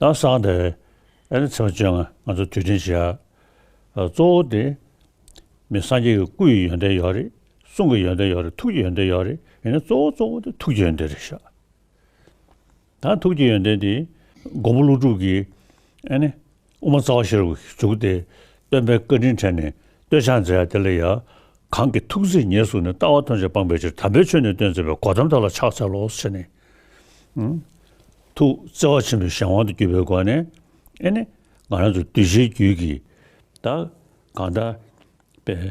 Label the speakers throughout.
Speaker 1: ད་སང་དེ། ཨེ་ན་ཚེ་མ་ཅོ་ང་ང་ཚོ་དུས་དྲན་བྱས། གཙོ་བོ་དེ། མི་སངས་རྒྱས་ཀྱི་སྐུ་ཡི་ཡོན་ཏན་ཡོད་རེད། གསུང་གི་ཡོན་ཏན་ཡོད་རེད་ཐུགས་ཀྱི་ཡོན་ཏན་ཡོད་རེད་ཡིན་ན་གཙོ་བོ་གཙོ་བོ་དེ་ཐུགས་ཀྱི་ཡོན་ཏན་རེད་ཤག། ད་ཐུགས་ཀྱི་ཡོན་ཏན་དེ། མགོན་པོ་ཀླུ་སྒྲུབ་ཀྱིས་ཨེ་ནི། དབུ་མ་རྩ་བ་ཤེར་བཞུགས་ཏེ། སྟོན་པའི་བཀའ་དྲིན་དྲན་ནས་བསྟོད་བྱ་མཛད། དེ་ལ་ཡང། གང་གི་ཐུགས་རྗེས་ཉེར་བཟུང་ནས་ལྟ་བ་ཐོན་ཕྱིར་སྤངས་པའི་ཕྱིར་དམ་པའི་ཆོས་ནི་སྟོན་མཛད་པའི་གོ་ཐམས་དག་ལ་ཕྱག་འཚལ་ལོ་ཞེས་ནི། ཐུགས་བརྩེ་བ་ཆེན་པོའི་གཞན་དབང་དུ་གྱུར་པའི་སྒོ་ནས་ཨེ་ནི། ང་རང་ཚོ་གདུལ་བྱའི་རྒྱུད་ཀྱི། དང། གང་དག། པའི།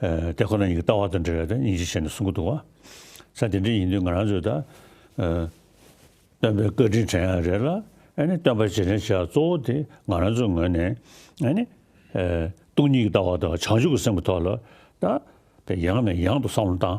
Speaker 1: དེ་ཁོ་ན་ཉིད་ཀྱི་ལྟ་བ་དང་འབྲེལ་བའི་དོན་སྙིང་ཅན་ཞེས་ནི་གསུང་གི་འདུག་བ། ས་དེ་འདྲ་ཡིན་དུས་ང་རང་ཚོའི་ད། སྟོན་པའི་བཀའ་དྲིན་དྲན་ཡང་རེད་ལ། སྟོན་པ་རྗེས་དྲན་བྱེད་ཡ་གཙོ་བོ་དེ་ང་རང་ཚོའི་ངོས་ནས། སྟོང་ཉིད་ཀྱི་ལྟ་བ་དང་བྱང་ཆུབ་ཀྱི་སེམས་ཀྱི་ཐོག་ལ། ད། ཡང་ནས་ཡང་དུ་བསམ་བློ་བཏང།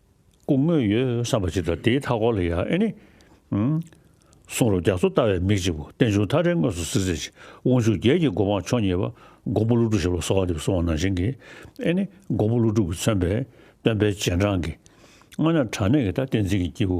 Speaker 1: སྐུ་དངོས་ཡོད་བསམ་པ་ཅིག་དང་དེའི་མཐའ་སྐོར་ལ་ཡང་ཨེ་ནི། གསུང་རབ་རྒྱ་མཚོ་ལྟ་བའི་མིག་ཅིག་པུ་བསྟན་འབྱུང་མཐའ་བྲལ་དངོས་སུ་གསེར་རྩེ་དབང་ཕྱུག་རྒྱལ་གྱི་སྒོ་མང་ཕྱོགས་གཉིས་པ་མགོན་པོ་ཀླུ་སྒྲུབ་ཞབས་ལ་གསོལ་བ་འདེབས་གསུང་བ་ནང་བཞིན་གྱི་ཨེ་ནི་མགོན་པོ་ཀླུ་སྒྲུབ་ཀྱིས་མཚོན་པའི་སྟོན་པའི་རྗེས་འབྲང་གི། དངོས་གནས་དྲང་གནས་ཀྱི་ད་བསྟན་འཛིན་གྱི་སྐྱེས་བུ།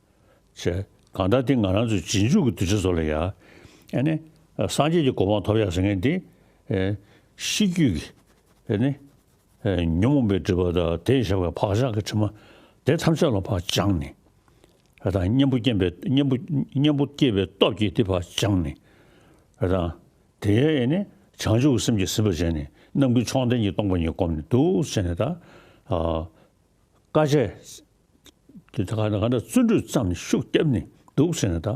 Speaker 1: ཅེས། གང་ལྟར་འདི་ང་རང་ཚོའི་རྗེས་འཇུག་གི་བདུད་རྩི་ཟོ་ལ་ཡ། ཨེ་ནི། སངས་རྒྱས་ཀྱི་གོ་འཕང་ཐོབ་ཡ་ཟེར་མཁན་འདི། ཤི་རྒྱུད་ཀྱི། ཨེ་ནི། ཉོན་མོངས་པའི་སྒྲིབ་པ་དང་དེ་ཡི་ཞགས་པའི་བག་ཆགས་ཀྱི་དྲི་མ། དེ་ཐམས་ཅད་ལ་བག་སྦྱངས་ནས། ཨེ་དང་གཉེན་པོ་སྐྱེན་པའི་གཉེན་པོ། གཉེན་པོ་སྐྱེས་པའི་སྟོབས་ཀྱིས་དེ་བག་སྦྱངས་ནས། ཨེ་དང། དེ་ཡས་ཨེ་ནི། བྱང་ཆུབ་ཀྱི་སེམས་ཀྱིས་ཟིན་པར་བྱས་ནས་རྣམ་ཀུན་མཆོག་ལྡན་གྱིས་སྟོང་པ་ཉིད་བསྒོམས་ནས་འདུ་བྱས་ནས་ད། བཀའ་བཅད། དེ་ག་ག་ད་བརྩོན་འགྲུས་བརྩམས་ནས་ཤུགས་བརྒྱབ་ནས་འདུག་ཟེར་ནས་ད་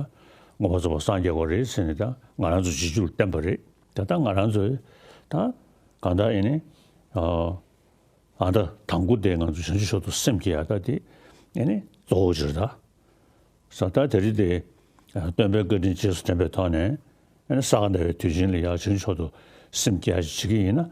Speaker 1: ངོ་བོ་ཚོ་བ་སངས་རྒྱས་སྐོར་རེད་ཟེར་ནས་ད་ང་རང་ཚོ་བརྗེ་བསྒྱུར་བསྟན་པ་རེད་ད་ལྟ་ང་རང་ཚོས་ད་གང་ད་ཡིན་ནའི་ཨ་ད་དང་སྐུ་དེ་ང་ཚོ་བྱང་ཆུ་ཕྱོགས་དུ་སེམས་ཀྱི་ཡ་ད་དེ་ཡིན་ནའི་གཙོ་བོ་བྱེད་ད་ས་ད་དེ་རིང་དེ་སྟོན་པའི་བཀའ་དྲིན་རྗེས་སུ་དྲན་པའི་ཐོག་ནས་ཨ་ནི་ས་ག་ད་བའི་དུས་ཆེན་ལ་ཡག་བྱང་ཆུ་ཕྱོགས་དུ་སེམས་ཀྱི་ཡ་བྱེད་ཀྱི་ཡིན་ན་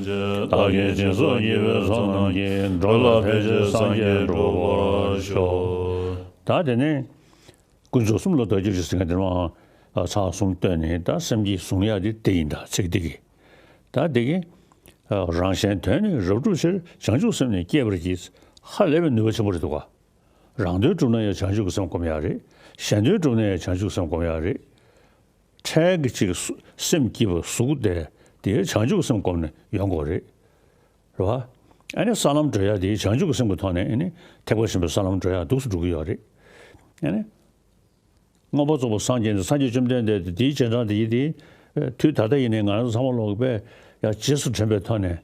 Speaker 1: བདག་གི་སྦྱིན་སོགས་བགྱི་བའི་ཚོགས་རྣམས་ཀྱིས་འགྲོ་ལ་ཕལ་ཆེར་སངས་རྒྱས་འགྲོ་བར་ཤོག། ད་དེ་ནས་ཀུན་རྫོབ་གསུམ་ལ་བདག་རྒྱུད་ཀྱི་ཟེར་མཁན་དེ་རྣམས་ལའང་ཚང་བ་གསུམ་བསྟོད་ནས་ད་སེམས་ཀྱི་གཟུང་ཡ་དེ་དེ་ཡིན་ད་ཚིག་དེ་གིས་ད་དེ་གིས། རང་གཞན་དོན་ནི་རབ་བསྒྲུབ་ཕྱིར་བྱང་ཆུབ་སེམས་ནི་བསྐྱེད་པར་གྱིས། ཧ་ལས་པའི་ནུས་པ་ཆེན་པོ་རེད་འདུག་ག། རང་དོན་བསྒྲུབ་ན་ཡང་བྱང་ཆུབ་ཀྱི་སེམས་སྒོམ་ཡ་རེད་གཞན་དོན་བསྒྲུབ་ན་ཡང་བྱང་ཆུབ་ཀྱི་སེམས་སྒོམ་ཡ་རེད། འཕྲལ་གྱི་ཅིག་སེམས་སྐྱིད་པ་གཟུགས་དེ་དེའི་བྱང་ཆུབ་སེམས་བསྒོམས་ནས་ཡོང་གོ་རེད། རེད་བ། ཨ་ནི་ས་ལམ་བགྲོད་ཡག་དེའི་བྱང་ཆུབ་ཀྱི་སེམས་ཀྱི་ཐོག་ནས་ཨ་ནི་ཐེག་པ་ཆེན་པོའི་ས་ལམ་བགྲོད་ཡག་འདུག་སུ་འགྲོ་གི་ཡོད་རེད། ཨ་ནི། མངོན་པར་རྫོགས་པར་སངས་རྒྱས་འདི་སངས་རྒྱས་བཅོམ་ལྡན་འདས་དེ་དེའི་རྗེས་འབྲང་དེ་ཡི་དེའི་དུས་ད་ལྟ་ཡིན་ནའི་ང་རང་ཚང་མ་ལོག་པས་ཡ་རྗེས་སུ་དྲན་པའི་ཐོག་ནས་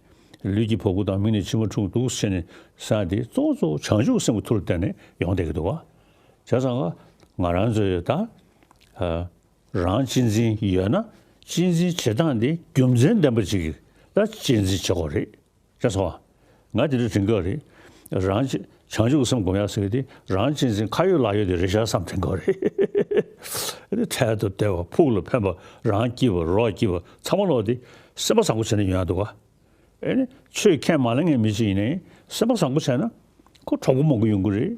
Speaker 1: ལུས་ཀྱི་བུ་གུ་དང་མིག་ནས་མཆི་མ་འཁྲུགས་འདུག་ཤེས་ནས་ས་དེ་གཙོ་བོ་གཙོ་བོ་བྱང་ཆུབ་སེམས་ཀྱི་མཐུར་བསྟན་ནས་ཡོང་བསྡད་ཀྱི་འདུག་བ། བྱས་ཙང་ང་རང་ཚོའི་ད། རང་གཅེས་འཛིན་ཡོད་ན་གཅེས་འཛིན་བྱེད་སྟངས་དེ་རྒྱུ་མཚན་ལྡན་པ་ཅིག་ལ་གཅེས་འཛིན་བྱེད་དགོས་རེད་ཅེས་སོང་བ། ང་དེ་འདྲ་དྲན་གི་རེད། རང་གཅེས་བྱང་ཆུབ་སེམས་བསྒོམ་ཡག་ཟེར་གི་དེ་རང་གཅེས་འཛིན་ཁ་ཡོད་ལག་ཡོད་དེ་རེད་ཤག་བསམ་དྲན་གི་རེད། འཕྲལ་དུ་བདེ་བ་ཕུགས་ལ་ཕན་པ་རང་སྐྱིད་པ་རོགས་སྐྱིད་པ་ཚང་མ་ལོག་དེ་སེམས་པ་བཟང་པོ་བྱེད་ན་ཡོང་ཡག་འདུག་ཨ། ཆོས་ཁས་མ་ལེན་མཁན་མི་གཅིག་ཡིན་ན་ཡང་སེམས་པ་བཟང་པོ་བྱས་ན་ཁོ་གྲོགས་པོ་མང་པོ་ཡོང་གི་རེད།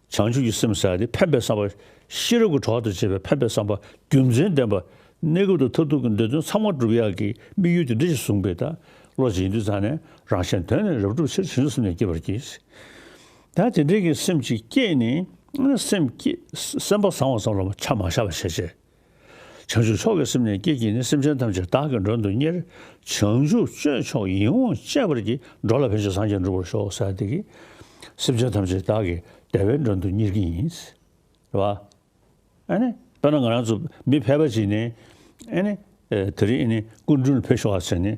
Speaker 1: བྱང་ཆུབ་ཀྱི་སེམས་བསལ་ཏེ་ཕན་པའི་བསམ་པ། ཤེས་རབ་ཀྱི་གྲོགས་དང་བཅས་པའི་ཕན་པའི་བསམ་པ་རྒྱུ་མཚན་ལྡན་པ། གནས་སྐབས་དང་མཐར་ཐུག་གི་འདོད་དོན་ཚང་མ་བསྒྲུབ་ཡག་གི་དམིགས་ཡུལ་དེ་འདྲ་ཞིག་བཟུང་པས་ད་བློ་ཇི་འདུལ་ཚང་ནས་རང་གཞན་དོན་ནི་རབ་སྒྲུབ་ཕྱིར་བྱིན་གསུམ་ནས་བསྐྱེད་པར་གྱིས། ད་དེ་འདྲའི་གི་སེམས་ཅིག་སྐྱེས་ནས་སེམས་སྐྱེས་སེམས་པ་བཟང་བ་ཙམ་ལ་ཆ་མ་བཞག་པ་བྱས་བྱས། བྱང་ཆུབ་མཆོག་གི་སེམས་ནི་སྐྱེས་ཀྱིས་ནི་སེམས་ཅན་ཐམས་ཅད་བདག་གི་མགྲོན་དུ་གཉེར། བྱང་ཆུབ་སྤྱོད་མཆོག་ཡིད་འོང་སྤྱད་པར་གྱིས་འགྲོ་ལ་བོན་ཆོས་སངས་རྒྱས་འགྲུབ་པར་ཤོག་བསལ་ཏེ། སེམས་ཅན་ཐམས་ཅད་བདག་གི་བདེ་བའི་མགྲོན་དུ་གཉེར་གྱིན་ཡིན། རེད་བ། ཨཱ་ནི། དཔེར་ན་ང་རང་ཚོ་མི་ཕལ་པ་ཅིག་ནི། ཨཱ་ནི། དེ་རིང་ཨཱ་ནི་སྐུ་མགྲོན་ལ་ཕེབས་ཤོག་ཟེར་ནས་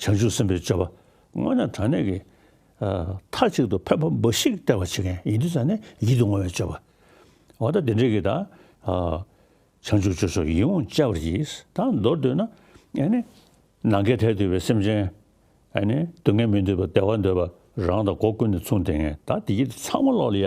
Speaker 1: བྱང་ཆུབ་སེམས་དཔའི་སྤྱོད་པ། སྔོ་ནག་དྲང་གནས་ཀྱི། མཐའ་གཅིག་ཏུ་ཕན་པ་འབའ་ཞིག་སྟེར་བར་བྱེད་མཁན་ཡིན་དུས་ས་ནས་ཡིད་དུ་འོང་བའི་སྤྱོད་པ། འོ་ད་དེ་འདྲའི་གྱིས་དང། བྱང་ཆུབ་སྤྱོད་ཕྱོགས་ཡིད་འོང་སྤྱད་པར་གྱིས་དང་མདོར་བསྡུ་ན། ནང་འགལ་ཐལ་འདུས་པའི་སེམས་ཅན། སྡུག་བསྔལ་མི་འདོད་པ་བདེ་བ་འདོད་པ་རང་དང་སྒོ་ཀུན་ནས་མཚུངས་དེ་ངས་ད་དེ་གྱིས་ཚང་མ་ལོག་ལ་ཡ།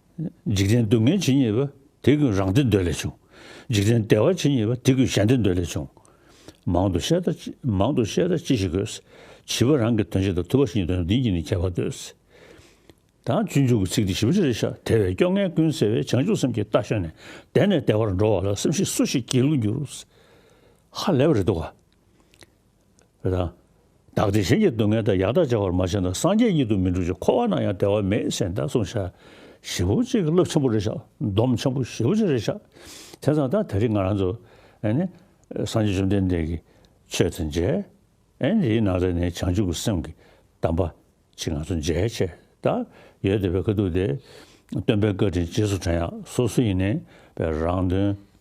Speaker 1: འཇིག་རྟེན་སྡུག་བསྔལ་ཇི་སྙེད་པ་དེ་ཀུན་རང་བདེ་འདོད་ལས་བྱུང། འཇིག་རྟེན་བདེ་བ་ཇི་སྙེད་པ་དེ་ཀུན་གཞན་བདེ་འདོད་ལས་བྱུང། མང་དུ་བཤད་ད། མང་དུ་བཤད་ད་ཅི་ཞིག་དགོས། བྱིས་པ་རང་གི་དོན་བྱེད་ད་ཐུབ་པ་ཞིག་འདོད་ན་དེང་གི་ནི་ཁྱད་པར་འདོད། དང་བཅུ་མཇུག་གི་ཚིག་འདི་ཞིབ་ཕྲ་རེ་བཞག་དེ་བས་སྐྱོ་ངལ་ཀུན་སེལ་བའི་བྱང་ཆུབ་སེམས་ཀྱི་རྟགས་ཤོད་ནས་བདེ་ནས་བདེ་བར་འགྲོ་བ་ལ་སེམས་གཤིས་སུ་ཞིག་སྐྱིད་ལུགས་འགྱུར། ཧ་ལས་པ་རེད་འདུག་ག། དང། བདག་དེ་བཞིན་གྱི་སྡུག་བསྔལ་དང་ཡག་དག་བྱ་བར་མ་བྱས་ན་སངས་རྒྱས་ཉིད་དུ་མི་འགྲུབ་ཅིང་འཁོར་བ་ན་ཡང་བདེ་བ་མེད་ཅེས་བདག་བསྲུང་བྱ། བཞི་པོ་གཅིག་གི་རླབས་ཆེན་པོ་རེ་བཞག་སྡོམ་ཆེན་པོ་བཞི་བོ་གཅིག་རེ་བཞག། དེ་ཙམ་དང་དེ་རིང་ང་རང་ཚོ། ནི། སངས་རྒྱས་བཅོམ་ལྡན་འདས་ཀྱི་ཆོས་དེ་མཇལ། ཨན། དེའི་ནང་ཚན་ནི་བྱང་ཆུབ་ཀྱི་སེམས་ཀྱི་གདམས་པ། ཅིག་ང་ཚོ་མཇལ་ཆེད་ད། ཡོད་དེ་བས་དཀའ་སྡུག་དེ། སྟོན་པའི་བཀའ་དྲིན་རྗེས་སུ་དྲན་ཡང་སོ་སོ་ཡིན། པའི་རང་དོན།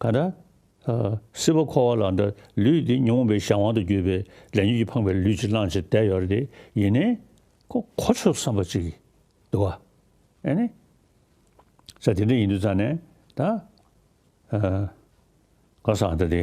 Speaker 1: ག་འདྲ། སྲིད་པ་འཁོར་བ་ལ་འདྲ་ལུས་འདི་ཉོན་མོངས་པའི་གཞན་དབང་དུ་གྱུར་པའི་ལས་ཉོན་གྱིས་འཕངས་པའི་ལུས་ཕྱིར་བླངས་ཕྱིར་དལ་ཡོད་རེད་ཡིན་ནའི། ཁོ་གོ་ཆོད་བསམ་པ་ཅིག་འདུག་ཨ། ཨེ་ནས། ས་དེ་འདྲ་ཡིན་དུས་ཚང་ནས་ད། ག་ས་འདྲ་དེ།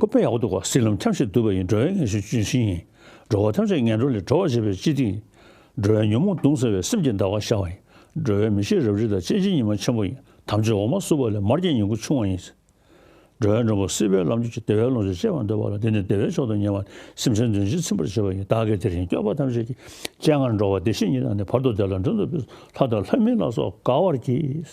Speaker 1: ཀུན་ཕན་ཡག་པོ་འདུག་བསིལ་རླུང་འཁྱམས་ཤིང་དུལ་བ་ཡིས་འགྲོ་བའི་ངན་སོན་གཅུན་ཞིང། འགྲོ་བ་ཐམས་ཅད་ངན་འགྲོ་ལས་གྲོལ་བར་བྱེད་པའི་སྤྱི་ཏི། འགྲོ་བའི་ཉོན་མོངས་གདུང་སེལ་བའི་སེམས་ཀྱི་ཟླ་བ་ཤར་བ་ཡིན། འགྲོ་བའི་མི་ཤེས་རབ་རིབ་དང་ཅན་ཅིང་ཉི་མ་ཆེན་པོ་ཡིན། དམ་ཆོས་འོག་མ་བསུ་བ་ལས་མར་གྱི་ཉིང་ཁུ་ཆུང་བ་ཡིན། འགྲོ་བའི་མགྲོན་པོ་བསིལ་བའི་རླབས་འགྱུར་གྱི་བདེ་བའི་ཀློང་ཆེན་བཅད་པར་འདོད་པ་ལ་འདི་ནི་བདེ་བའི་མཆོག་ཏུ་ཉེ་བ་ནི་སེམས་ཅན་འདུལ་བྱེད་ཚིམ་པར་བྱེད་པ་ཡིན་བདག་གིས་དེ་བཞིན་སྐྱོབ་པ་ཐམས་ཅད་ཀྱི་སྤྱན་སྔར་འགྲོ་བ་བདེ་གཤེགས་ཉིད་དང་ནི་བར་དོ་བདེ་ལ་འགྲོ་འདོད་པའི་ལྷ་དང་ལྷ་མིན་ལ་སོགས་དགའ་བར་གྱིས།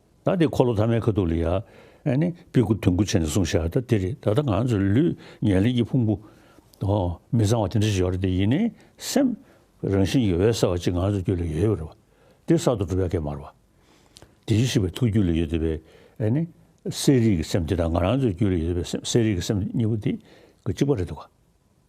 Speaker 1: ད་དེ་འཁོར་ལོ་ཐ་མའི་ཁ་ཐུག་ལ་ཡ། ནི། པི་ཀུ་དུན་ཀུ་ཆེ་ནས་གསུངས་ཤ་ད་དེ་རེད་ད་ལྟ་ང་ཚོ་ལུས་ངན་ལེན་གྱི་ཕུང་པོ། ཨོ། མི་གཙང་བ་དེ་འདྲ་ཞིག་ཡོད་རེད་དེ་ཡིན་ནའི་སེམས། རང་བཞིན་གྱི་འོད་གསལ་བ་གཅིག་ང་ཚོ་རྒྱུད་ལ་ཡོད་རེད་བ། དེ་གསར་དུ་གྲུབ་ཡ་ཁྱད་མར་བ། དེ་ཡེ་ཤེས་པའི་ཐུགས་རྒྱུད་ལ་ཡོད་དེ་བས། ཨེ་ནི། གསལ་རིག་གི་སེམས་དེ་དང་ང་རང་ཚོའི་རྒྱུད་ལ་ཡོད་པའི་སེམས་གསལ་རིག་གི་སེམས་གཉིས་པོ་དེ་གཅིག་པ་རེད་དེ་བ།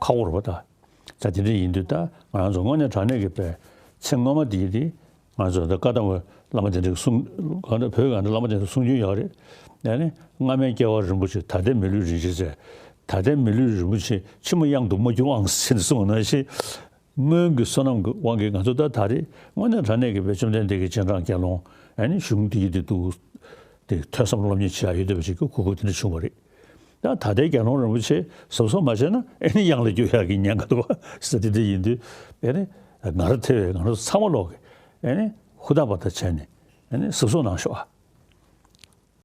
Speaker 1: ཁ་བོར་བ་དང། ད་དེ་འདྲ་ཡིན་དུས་ད་ང་རང་ཚོ་དངོས་གནས་དྲང་གནས་ཀྱི་པའི་ཚེ་སྔོན་མ་དེའི་དེ་ང་ཚོས་ད་བཀའ་གདམས་བ་བླ་མ་དེ་འདྲ་གི་གསུང་གང་འདྲ་བོད་གང་འདྲ་བླ་མ་དེ་འདྲ་གསུང་རྒྱུན་ཡག་རེད་ད་ནི་སྔ་མའི་སྐྱེ་བ་རིན་པོ་ཆེ་ད་ལྟའི་མི་ལུས་རིན་ཆེ་ཟེར་ད་ལྟའི་མི་ལུས་རིན་པོ་ཆེ་ཕྱི་མ་གཡང་དུ་མ་རྒྱུག་ཨང་ཟེར་ནས་གསུང་བ་ན་ཤེས། སྔོན་གྱི་བསོད་ནམས་ཀྱི་དབང་གིས་ང་ཚོ་ད་ད་རེས་དངོས་གནས་དྲང་གནས་ཀྱི་བོད་བཅོམ་ལྡན་འདས་ཀྱི་སྤྱན་དྲངས་དགེ་སློང་ཨེ་གཞུང་འདི་ཡིན་ཏེ་འདུག་སྟེ་ཐོས་བསམ་སློབ་གཉེར་བྱེད་ཨ་ཡོད་འདོད་པ་ཞིག་གི་གུས་བཀུར་དེ་འདྲ་བྱུང་བ་རེད། ཡང་ད་ལྟའི་དགེ་སློང་རིན་པོ་ཆེ་ཟབ་སོགས་མ་བྱས་ན་ཨེ་ནི་གཡང་ལ་རྒྱུག་ཡག་གི་ཉན་ག་འདུག་བ་དེ་འདྲ་ཡིན་དུས་ཨེ་ནི་ང་རོ་ཐེ་བའི་ང་རོ་ཚང་མ་ལོག་གི་ཨེ་ནི་ཧུར་ཐག་པ་ད་བྱས་ནས་ཨེ་ནི་ཟབ་སོགས་གནང་ཤོག་ཨ།